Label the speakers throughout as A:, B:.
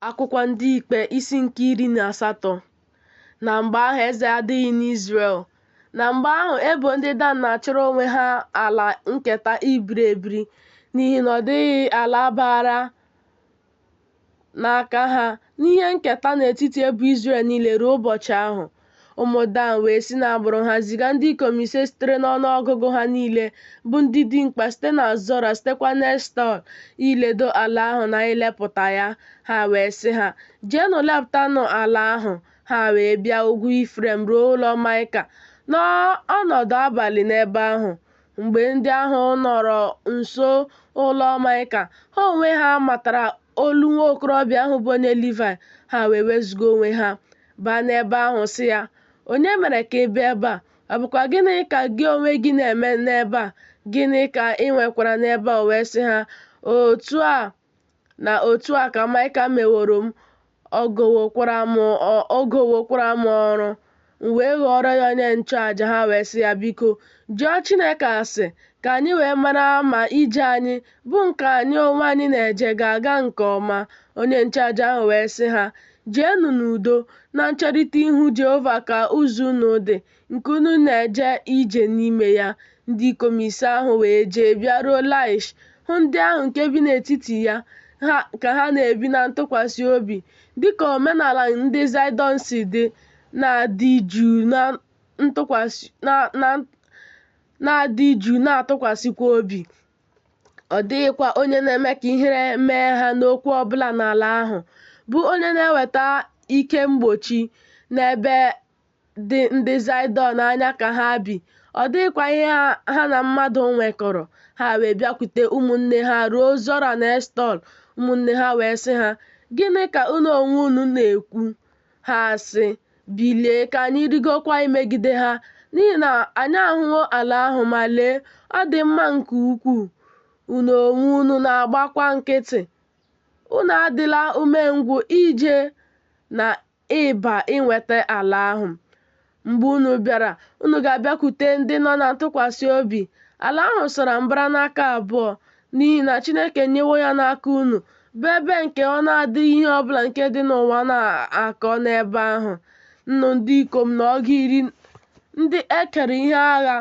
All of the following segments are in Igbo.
A: Akwụkwọ Ndị Ikpe isi nke iri na asatọ Na mgbe ahụ eze adịghị n'Izrel. Na mgbe ahụ ebo ndị Dan na-achọrọ onwe ha ala nketa ibiri ebiri n'ihi na ọ dịghị ala baara n'aka ha n'ihe nketa n'etiti ebo Izrel niile ruo ụbọchị ahụ. Ụmụ Dan wee si n'agbụrụ ha ziga ndị ikom ise sitere n'ọnụ ọgụgụ ha niile, bụ ndị dimkpa site na Zora, sitekwa n'Eshtaol, iledo ala ahụ na ilepụta ya. Ha wee sị ha, Jeenụ lepụtanụ ala ahụ. Ha wee bịa ugwu Ifrem ruo ụlọ Maịka, nọọ ọnọdụ abalị n'ebe ahụ. Mgbe ndị ahụ nọrọ nso ụlọ Maịka, ha onwe ha matara olu nwa okorobịa ahụ bụ onye Livaị, ha wee wezụga onwe ha. baa n'ebe ahụ sị ya, Onye mere ka ị bịa ebe a? Ọ bụkwa gịnị ka gị onwe gị na-eme n'ebe a? Gịnị ka ị nwekwara n'ebe a? O wee sị ha, Otu a na otu a ka Maịka meworo m, o gowokwara m ọrụ. M wee ghọọrọ ya onye nchụaja, ha wee sị ya, Biko, jụọ Chineke ase, ka anyị wee mara ma ije anyị bụ nke anyị onwe anyị na-eje ga-aga nke ọma, onye nchụaja ahụ wee sị ha, Jeenụ n'udo, na ncherịta ihu Jehova ka ụzọ unu dị, nke unu na-eje ije n'ime ya. Ndị ikom ise ahụ wee jee bịaruo Laish, hụ ndị ahụ nke bi n'etiti ya ka ha na-ebi na ntụkwasị obi, dị ka omenala ndị Zaịdọn si dị, na-adị jụụ na-atụkwasịkwa obi. ọ dịghịkwa onye na-eme ka ihere mee ha n'okwu ọ bụla n'ala ahụ, bụ onye na-eweta ike mgbochi n'ebe dị ndị Zaịdọn anya ka ha bi, ọ dịghịkwa ihe ha na mmadụ nwekọrọ. Ha wee bịakwute ụmụnne ha ruo Zora na Eshtaol, ụmụnne ha wee sị ha, Gịnị ka unu onwe unu na-ekwu? Ha sị, Bilie, ka anyị rigokwa imegide ha, n'ihi na anyị ahụwo ala ahụ, ma lee, ọ dị mma nke ukwuu, unu onwe unu na-agbakwa nkịtị. Unu adịla umengwụ ije na ịba inweta ala ahụ. Mgbe unu bịara, unu ga-abịakwute ndị nọ na ntụkwasị obi. Ala ahụ sara mbara n'aka abụọ, n'ihi na Chineke nyewo ya n'aka unu, bụ ebe nke ọ na-adịghị ihe ọ bụla nke dị n'ụwa na-akọ n'ebe ahụ, nnụ ndị ikom na ọgụ iri ndị e kere ihe agha,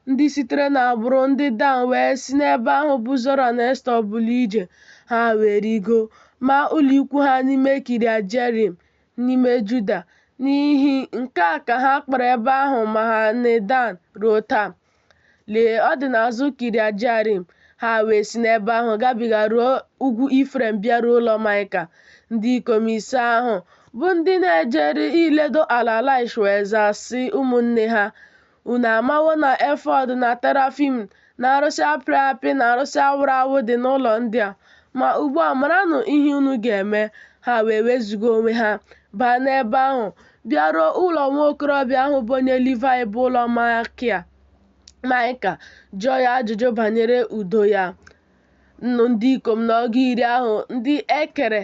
A: ndị sitere n'agbụrụ ndị Dan wee si n'ebe ahụ bụ Zora na Eshtaol bulie ije, ha wee rigo, maa ụlọ ikwu ha n'ime Kiriat Jearim, n'ime Juda. N'ihi nke a ka ha kpọrọ ebe ahụ Mahane-dan ruo taa. Lee, ọ dị n'azụ Kiriat Jearim. Ha wee si n'ebe ahụ gabiga ruo ugwu Ifrem bịaruo ụlọ Maịka. Ndị ikom ise ahụ, bụ ndị na-ejeri iledo ala Laish wee zaa sị ụmụnne ha, Unu amawo na efọd na terafim na arụsị a pịrị apị na arụsị a wụrụ awụ dị n'ụlọ ndị a. Ma ugbu a maranụ ihe unu ga-eme. Ha wee wezụga onwe ha, baa n'ebe ahụ, bịaruo ụlọ nwa okorobịa ahụ bụ onye Livaị bụ ụlọ Maịka, jụọ ya ajụjụ banyere udo ya. Nnụ ndị ikom na ọgụ iri ahụ ndị e kere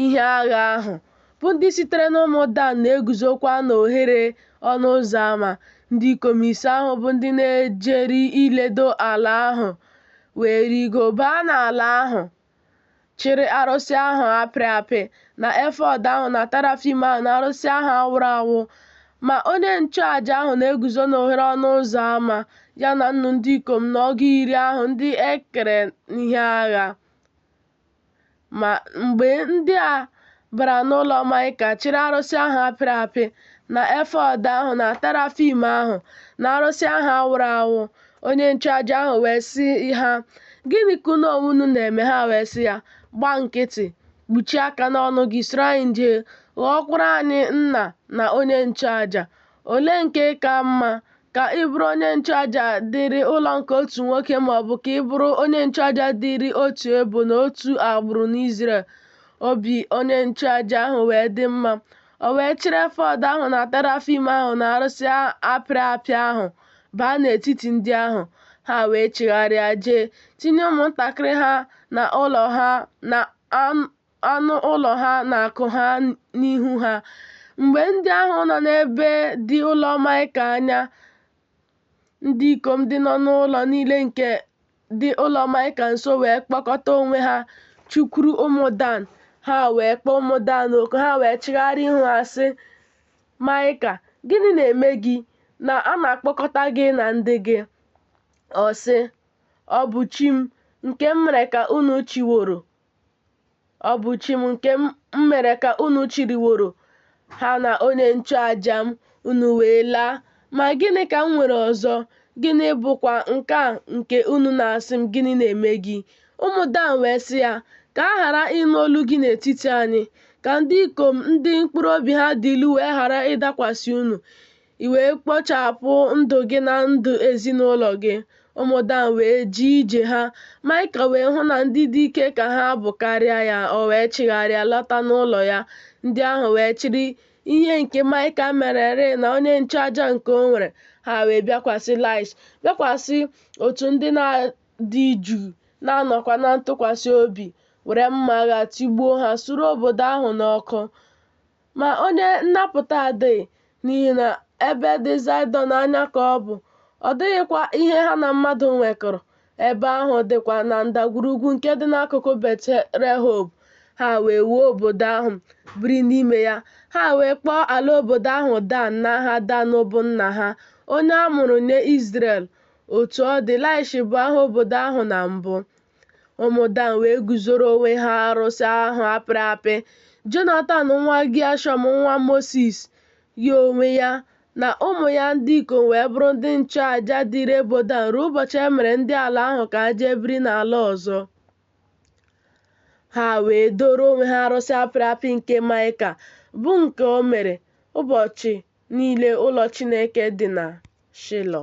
A: ihe agha ahụ, bụ ndị sitere n'ụmụ Dan na-eguzokwa n'ohere ọnụ ụzọ ama. Ndị ikom ise ahụ bụ ndị na-ejeri iledo ala ahụ wee rigo baa n'ala ahụ, chịrị arụsị ahụ a pịrị apị na efọd ahụ na tarafim ahụ na arụsị ahụ a wụrụ awụ. Ma onye nchụaja ahụ na-eguzo n'ohere ọnụ ụzọ ama, ya na nnụ ndị ikom na ọgụ iri ahụ ndị e kere ihe agha. Ma mgbe ndị a bara n'ụlọ Maịka chịrị arụsị ahụ a pịrị apị na efọd ahụ na terafim ahụ na arụsị ahụ a wụrụ awụ, onye nchụaja ahụ wee sị ha, Gịnị ka unu onwe unu na-eme? Ha wee sị ya, Gba nkịtị, kpuchie aka n'ọnụ gị, soro anyị jee, ghọọkwara anyị nna na onye nchụaja. Olee nke ka mma, ka ị bụrụ onye nchụaja dịịrị ụlọ nke otu nwoke ma ọ bụ ka ị bụrụ onye nchụaja dịịrị otu ebo na otu agbụrụ n'Izrel? Obi onye nchụaja ahụ wee dị mma, o wee chịrị efọd ahụ na terafim ahụ na arụsị a pịrị apị ahụ baa n'etiti ndị ahụ. Ha wee chigharịa jee tinye ụmụntakịrị ha na ụlọ ha na anụ ụlọ ha na akụ ha n'ihu ha. Mgbe ndị ahụ nọ n'ebe dị ụlọ Maịka anya, ndị ikom ndị nọ n'ụlọ niile nke dị ụlọ Maịka nso wee kpọkọta onwe ha chụkwuru ụmụ Dan. Ha wee kpọọ ụmụ Dan oku, ha wee chigharịa ihu ha sị Maịka, Gịnị na-eme gị na a na-akpọkọta gị na ndị gị? Ọ sị, Ọ bụ chi m, nke m mere ka unu chịworo, Ọ bụ chi m nke m mere ka unu chịrịworo ha na onye nchụaja m, unu wee laa. Ma gịnị ka m nwere ọzọ? Gịnị bụkwa nke a nke unu na-asị m, Gịnị na-eme gị? Ụmụ Dan wee sị ya, Ka a ghara ịnụ olu gị n'etiti anyị, ka ndị ikom ndị mkpụrụ obi ha dị ilu wee ghara ịdakwasị unu. i wee kpochapụ ndụ gị na ndụ ezinụlọ gị. Ụmụ Dan wee jee ije ha. Maịka wee hụ na ndị dị ike ka ha bụ karịa ya, o wee chigharịa lọta n'ụlọ ya. Ndị ahụ wee chịrị ihe nke Maịka mererị na onye nchụaja nke o nwere, ha wee bịakwasị Laịsh, bịakwasị otu ndị na-adị jụụ na-anọkwa na ntụkwasị obi, were mma agha tigbuo ha, suru obodo ahụ n'ọkụ. Ma onye nnapụta adịghị, n'ihi na ebe dị Zaịdọn anya ka ọ bụ, ọ dịghịkwa ihe ha na mmadụ nwekọrọ. Ebe ahụ dịkwa na ndagwurugwu nke dị n'akụkụ Bet-rehob. Ha wee wuo obodo ahụ, biri n'ime ya. Ha wee kpọọ ala obodo ahụ Dan n'aha Dan bụ nna ha, onye a mụrụ nye Izrel. Otu ọ dị, Laish bụ aha obodo ahụ na mbụ. Ụmụ Dan wee guzoro onwe ha arụsị ahụ a pịrị apị. Jonatan nwa Gịashọm nwa Mosis, ya onwe ya, na ụmụ ya ndị ikom wee bụrụ ndị nchụaja dịịrị ebo Dan ruo ụbọchị e mere ndị ala ahụ ka ha jee biri n'ala ọzọ. Ha wee doro onwe ha arụsị a pịrị apị nke Maịka, bụ nke o mere ụbọchị niile ụlọ Chineke dị na Shilo.